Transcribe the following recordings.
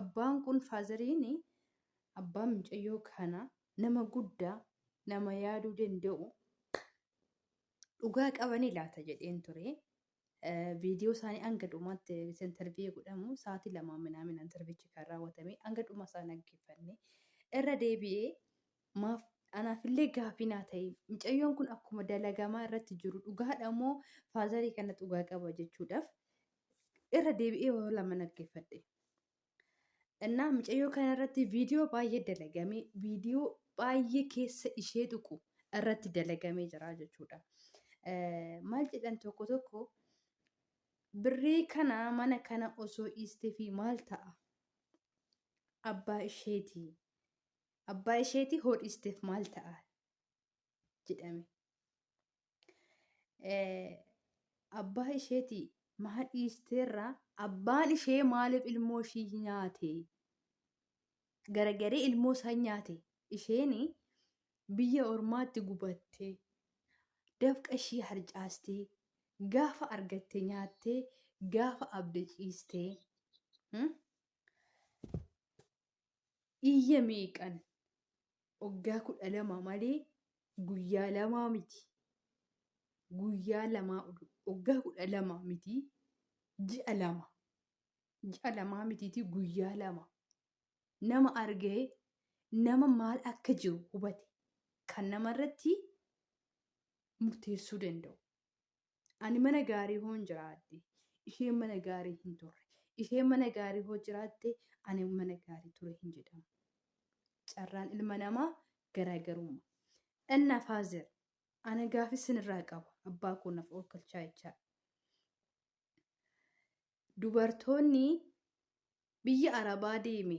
Abbaan kun faazariin abbaan mucayyoo kana nama guddaa nama yaaduu danda'u dhugaa qabanii laata jedheen ture. Viidiyoo isaanii hanga dhumaatti interviiyee godhamu sa'aatii lamaa minaamin interviichi kan raawwatame hanga dhuma isaa dhaggeeffanne irra deebi'ee maaf anaafillee gaafii naa ta'e mucayyoon kun akkuma dalagamaa irratti jiru dhugaadha moo faazarii kana dhugaa qaba jechuudhaaf irra deebi'ee yoo lama dhaggeeffadhe. Innaa mucayyoo kana irratti viidiyoo baay'ee dalagame viidiyoo baay'ee keessa ishee tuqu irratti dalagamee jira jechuudha. Maal jedhan tokko tokko birrii kana mana kana osoo dhiistee fi maal ta'a? Abbaa isheeti. Abbaa isheeti hoo dhiisteef maal ta'a? jedhame. abbaa isheeti maa dhiisteerraa abbaan ishee maaliif ilmoo ishii nyaate garagaree ilmoo isaa nyaate isheen biyya ormaatti gubattee dafqa ishii harcaastee gaafa argatte nyaattee gaafa abda ciistee iyya meeqan waggaa kudha lama malee guyyaa lamaa miti guyyaa lamaa waggaa kudha lama miti ji'a lama ji'a lamaa mitiiti guyyaa lama nama argee nama maal akka jiru hubate kan namarratti murteessuu danda'u. Ani mana gaarii hoon jiraadhe. Isheen mana gaarii hin turre. Isheen mana gaarii hoo jiraatte ani mana gaarii ture hin jedhamu. Carraan ilma namaa garaagarumma. Ennaa faazer ana gaafii sinirraa qaba abbaa koo naaf oolkalchaa jechaa. Dubartoonni biyya arabaa deeme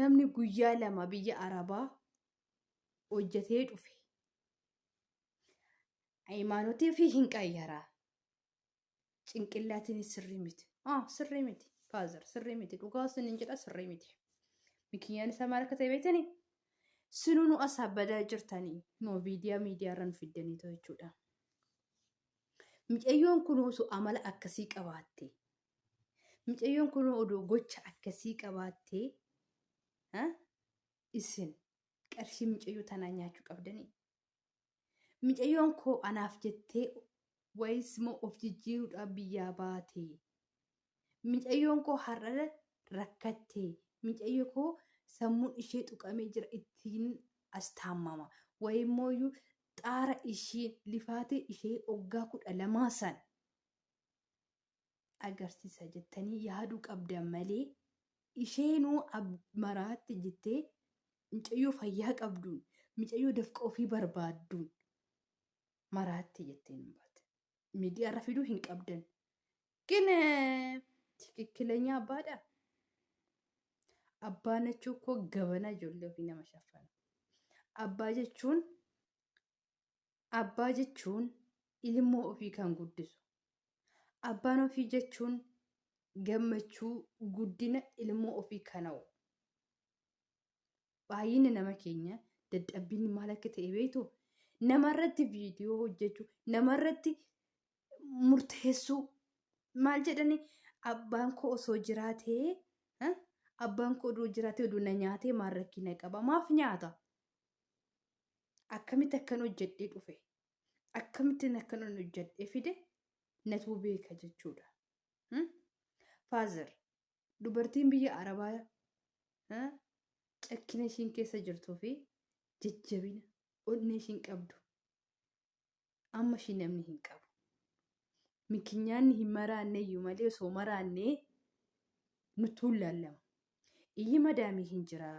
namni guyyaa lama biyya arabaa hojjetee dhufe hayimaanotii fi hin qayyaraa cinqillaatiin sirrii miti ah sirrii miti faazar sirrii miti dhugaa sin hin jedha sirrii miti mikiyyaan isaa maal akka ta'e beektani sinuu nu asaa badaa jirtanii noo viidiyaa miidiyaa irra nu fiddanii too jechuudha. Micayyoon kun osoo amala akkasii qabaatte Mucayyoon kun odoo gocha akkasii qabaattee ha? isin qarshii mucayyoo tanaa nyaachuu qabdanii. Mucayyoon koo anaaf jettee wayis moo of jijjiiruudhaaf biyyaa baate. Mucayyoon koo har'a rakkatte. Mucayyo koo sammuun ishee tuqamee jira ittiin as taammama. Wayimmoo iyyuu xaara ishii lifaatee ishee oggaa kudha lamaa san agarsiisa jettanii yaaduu qabdan malee isheenuu maraatte jettee micayyoo fayyaa qabduun micayyoo dafqa ofii barbaadduun maraatte jettee hin baate. Miidiyaarra fiduu hin qabdan. Gin tikikkilenyaa abbaadha. Abbaa nachuu koo gabanaa ijoollee ofii nama shaffana. Abbaa jechuun Abbaa jechuun ilmoo ofii kan guddisu. Abbaan ofii jechuun gammachuu guddina ilmoo ofii kan hawwu. Baay'inni nama keenya dadhabbiin maal akka ta'e beektu namarratti viidiyoo hojjechuu namarratti murteessuu maal jedhani abbaan koo osoo jiraatee eh, abbaan koo oduu jiraatee oduu na nyaatee maal rakkina qaba maaf nyaata akkamitti akkan hojjedhee dhufe akkamittiin akkan hojjedhee fide natuu beeka jechuudha. Faazar dubartiin biyya arabaa cakkina ishiin keessa jirtuu fi jajjabina onnee ishiin qabdu amma ishii namni hin qabu. Mikinyaanni hin maraanne iyyuu malee osoo maraannee nutti hin laallama. Iyyi madaamii hin jira,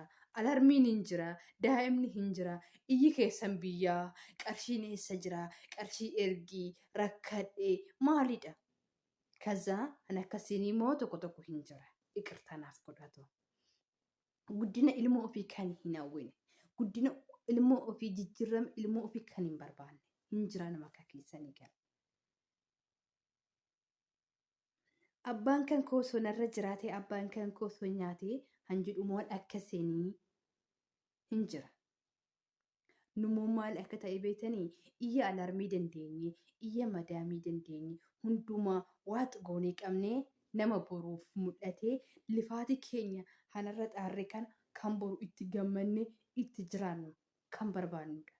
alarmiin hin jira, daa'imni hin jira, iyyi keessan biyyaa, qarshiin eessa jira, qarshii ergii, rakkadhee, maalidha? Kazaa an akkasiin immoo tokko tokko hin jira. Iqirtaa naaf godhatu. guddina ilmoo ofii kan hin hawwine guddina ilmoo ofii jijjiirama ilmoo ofii kan hin barbaanne hin jira nama akka keessanii kan abbaan kan koo osoo narra jiraatee abbaan kan koo osoo nyaatee hanjidhumoon akka seenii hin jira Nummoo maal akka ta'e beektanii? Iyya alarmii dandeenye, iyya madaamii dandeenye, hundumaa waax goonee qabnee nama boruuf mul'atee lifaatii keenya hanarra xaarre kana kan boru itti gammanne itti jiraannu kan barbaannudha.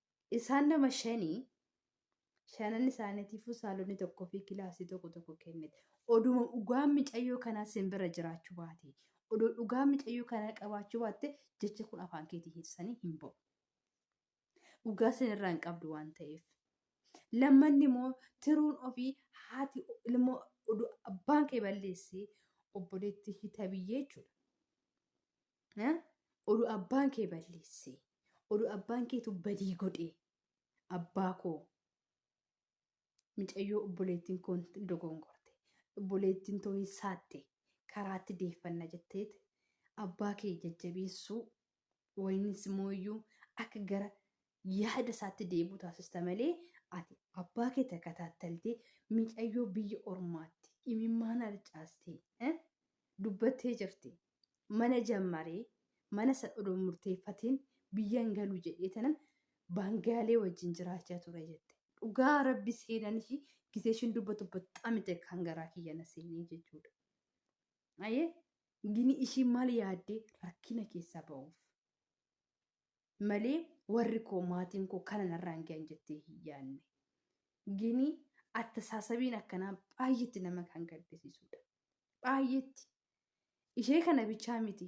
Isaan nama shanii shanan isaaniitiifuu saalonni tokkoo fi kilaasii tokko tokko kennite. Oduma dhugaan micayyoo kanaa sin bira jiraachuu baate, odoo dhugaa micayyoo kanaa qabaachuu baatte jecha kun afaan keetii keessanii hin ba'u. Dhugaa sin irraa hin qabdu waan ta'eef. Lammanni immoo tiruun ofii haati ilmoo oduu abbaan kee balleessee obboleetti hita biyyee jechuudha. eh, oduu abbaan kee balleessee oduu abbaan keetu badii godhee abbaa koo micayyoo obboleettiin koo hin dogongorte obboleettiin too hin saatte karaatti deeffanna jetteet abbaa kee jajjabeessuu waynis mooyyuu akka gara yaada isaatti deebi'u taasista malee ati abbaa kee takataattaltee micayyoo biyya ormaatti imimmaan harcaastee eh, dubbattee jirti mana jammaree mana san odoo murteeffatiin biyyan galu jedhee tanan baangaalee wajjin jiraachaa ture jette dhugaa rabbi seenan ishii gisee ishiin dubbatu baxxaam itti kan garaa kiyya na seenee jechuudha. Ayee gini ishii maal yaaddee rakkina keessaa ba'uuf. malee warri koo maatiin koo kana narraan gahan jettee hin yaadne. Gini attasaasabiin akkanaa baay'eetti nama kan gaddisiisudha. Baay'eetti. Ishee kana bichaa miti.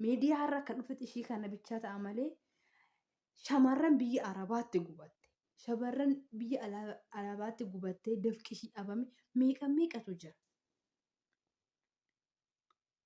Miidiyaa irra akka dhufetti ishee kana bichaa ta'a malee shamarran biyya Arabaatti gubatte. Shamarran biyya ala- Arabaatti gubattee dafqi ishii dhabame meeqa meeqatu jira.